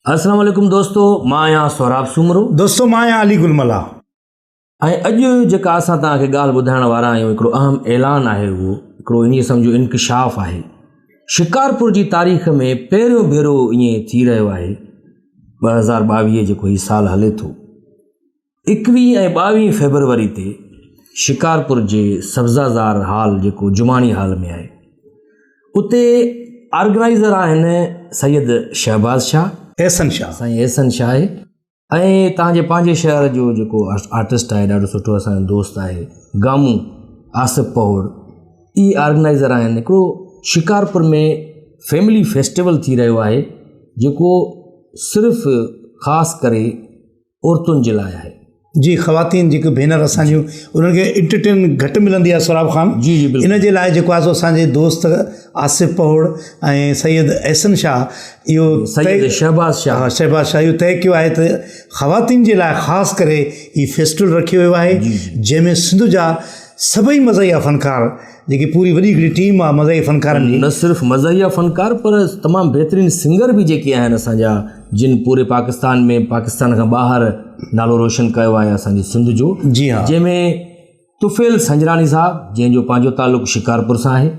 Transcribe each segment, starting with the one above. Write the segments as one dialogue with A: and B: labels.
A: اسلام عليڪم دوستو مان آهيان سهراب سومرو. دوستو مان آهيان علي گل
B: ملاح. ۽
A: اڄ جيڪا اسان توهان کي ڳالهه ٻڌائڻ وارا آهيون هڪڙو اهم اعلان آهي اهو هڪڙو ائين سمجهو انڪشاف آهي شڪارپور جي تاريخ ۾ پهريون ڀيرو ائين ٿي رهيو آهي ٻه هزار ٻاويهه جيڪو هي سال هلي ٿو اڪويهه ۽ ٻاويهه فيبروري تي شڪارپور جي سبزازار هال جيڪو جماڻي هال ۾ آهي اتي آرگنائيزر آهن سيد شهباز شاهه احسن شاهه سائين
B: احسن شاهه آهي
A: ۽ تانجي پنهنجي شهر جو جيڪو آرٽسٽ آهي ڏاڍو سٺو اسان دوست آهي گامو آصف پهوڙ اي آرگنائيزر آهن هڪڙو شڪارپور ۾ فيملي فيسٽيول ٿي رهيو آهي جيڪو صرف خاص ڪري عورتن جي لاء آهي جي خواتين
B: جيڪي بينر اسان جون انهن کي انٽرٽينمينٽ گهٽ ملندي آهي سوراب خان جي جي بلڪل ان جي لاء
A: جيڪو آهي سو اسانجي
B: دوست آصف پهوڙ ۽ سيد احسن شاھ اهو سيد شهباز
A: شاھ شهباز شاھ اهو طئي ڪيو
B: آهي ته خواتين جي لاء خاص ڪري هي فيسٽول رکيو ويو آهي جنهن ۾ سنڌ جا سڀئي مزاحيه فنڪار جيڪي پوري وڏي هڪڙي ٽيم آ مزاحيه فنڪارن جي. نه صرف مزاحيه فنڪار
A: پر تمام بهترين سنگر به جيڪي آهن اسان جا جن پوري پاڪستان ۾ پاڪستان کان ٻاهر نالو روشن ڪيو آهي اسان جي سنڌ جو جي ها جنهن ۾ طفيل سنجراڻي صاحب جنهن جو پنهنجو تعلق شڪارپور سان آهي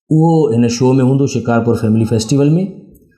A: اهو هن شو ۾ هوندو شڪارپور فيملي فيسٽيول ۾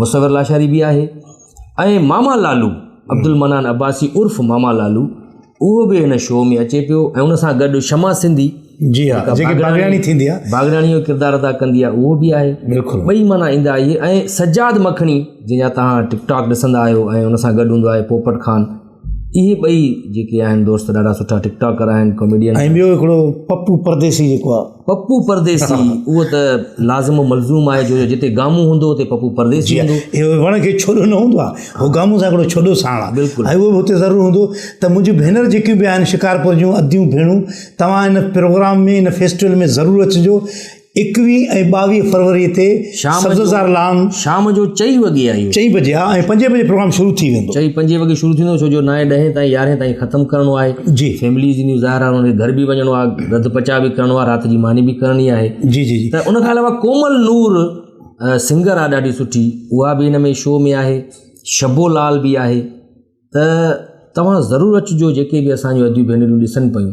A: مصور لاشاري به آهي ۽ ماما لالو عبدالمنان عباسي عرف ماما لالو اهو به هن شو ۾ اچي پيو ۽ ان سان گڏ شما سنڌي جي ها جيڪي
B: باغياڻي ٿيندي آ باغياڻي جو ڪردار ادا
A: ڪندي آ اهو به آهي بلڪل ٻئي معنيٰ ايندا
B: آهي
A: ۽ سجاد مکڻي جنهن جا تهان ٽڪ ٽاڪ ڏسندا آهيو ۽ ان سان گڏ هوندو آهي پوپٽ خان اهي ٻئي جيڪي آهن دوست ڏاڍا سٺا ٽڪ ٽاڪر آهن ڪاميڊين ۽ ٻيو هڪڙو
B: پپو پرديسي جيڪو آهي پپو پرديسي
A: اهو ته لازم و ملزوم آهي جو جتي گامو هوندو اتي پپو پرديسي هوندو اهو وڻ کي ڇوڏو
B: نه هوندو آهي اهو گامو سان هڪڙو ڇوڏو ساڻ آهي بلڪل اهو به هتي ضرور
A: هوندو
B: ته منهنجي ڀينر جيڪيون به آهن شڪارپور جون اديون ڀيڻون توهان هن پروگرام ۾ هن فيسٽيول ۾ ضرور اچجو ايڪويهه ۽ ٻاويهه فروريء تي شام جو- سبززار لان شام جو چئي وڳي
A: آهي اهو. چئين بجي ها ۽ پنجين
B: بجي پروگرام شروع ٿي ويندو چئين پنجين وڳي شروع ٿيندو
A: ڇو جو نائين ڏهين تائين يارهين تائين ختم ڪرڻو آهي جي. فيمليز ائنيون
B: ظاهر آهي انهن
A: کي گهر به وڃڻو آهي رڌ پچاء به ڪرڻو آهي رات جي ماني به ڪرڻي آهي جي جي جي ته ان کان
B: علاوه ڪومل
A: نور سنگر آهي ڏاڍي سٺي اها به هن ۾ شو ۾ آهي شبو لال به آهي ته توهان ضرور اچجو جيڪي به اسان جون اديون ڀينريون ڏسن پيون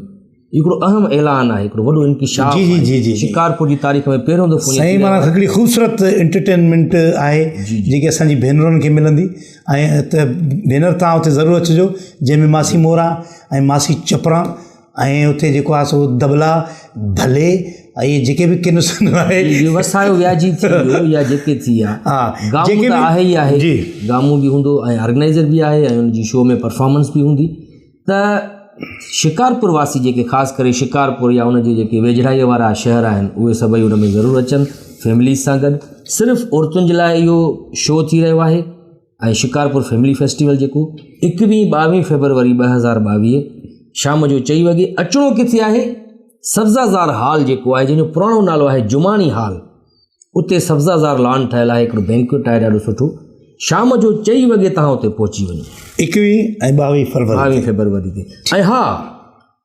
A: هي هڪڙو اهم اعلان آهي هڪڙو وڏو انڪشاف جي جي جي جي شڪارپور
B: جي تاريخ ۾
A: پهريون دفعو سائين مانا هڪڙي خوبصورت
B: انٽرٽينمنٽ آهي جيڪي اسان جي ڀينرن کي ملندي ۽ ته ڀينر تان اتي ضرور اچجو جنهن ۾ ماسي مورا ۽ ماسي چپرا ۽ اتي جيڪو آهي سو دبلا ڀلي ۽ جيڪي به ڪن سن آهي وسايو وياجي ٿي
A: ويو يا جيڪي ٿي ويا ها گامون ته
B: آهي ئي آهي
A: جي گامون به هوندو
B: ۽
A: آرگنائزر به آهي ۽ انجي شو ۾ پرفارمنس به هوندي ته شڪارپور واسي جيڪي خاص ڪري شڪارپور يا انجي جيڪي ويجهڙائيء وارا شهر آهن اهي سڀئي ان ۾ ضرور اچن فيمليز سان گڏ صرف عورتن جي لاء اهو شو ٿي رهيو آهي ۽ شڪارپور فيملي فيسٽيول جيڪو ايڪويهه ٻاويهه فيبروري ٻه هزار ٻاويهه شام جو چئي وڳي اچڻو ڪٿي آهي سبزا زار هال جيڪو آهي جنهنجو پراڻو نالو آهي جماڻي هال اتي سبزا زار لان ٺهيل آهي هڪڙو بينڪويٽ آهي ڏاڍو سٺو شام جو چئي وڳي تان اتي پهچي وڃو ايڪويهه ۽
B: ٻاويهه فيبروري ٻاويهه فيبروري تي
A: ۽ ها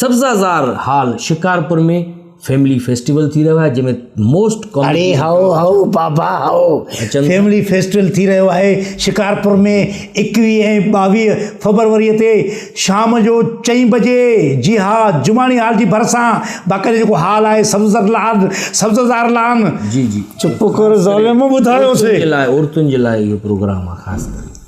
A: Sabzazar hall Shikarpur ۾ family festival ٿي رهيو آهي جنهن ۾ موسٽ ڪاميڊي اڙي هائو هائو
B: بابا هائو فيملي فيسٽيول ٿي رهيو آهي شڪارپور ۾ ايڪويهه ۽ ٻاويهه فبروري تي شام جو چئين بجي جي ها جماڻي هال جي ڀرسان باقاعده جيڪو هال آهي سبزه لان سبزه زار لان جي
A: جي چپ
B: ڪر
A: ظالم
B: ٻڌايوسي
A: عورتن جي
B: لاء
A: عورتن
B: جي لاء
A: اهو پروگرام
B: آهي خاص
A: ڪري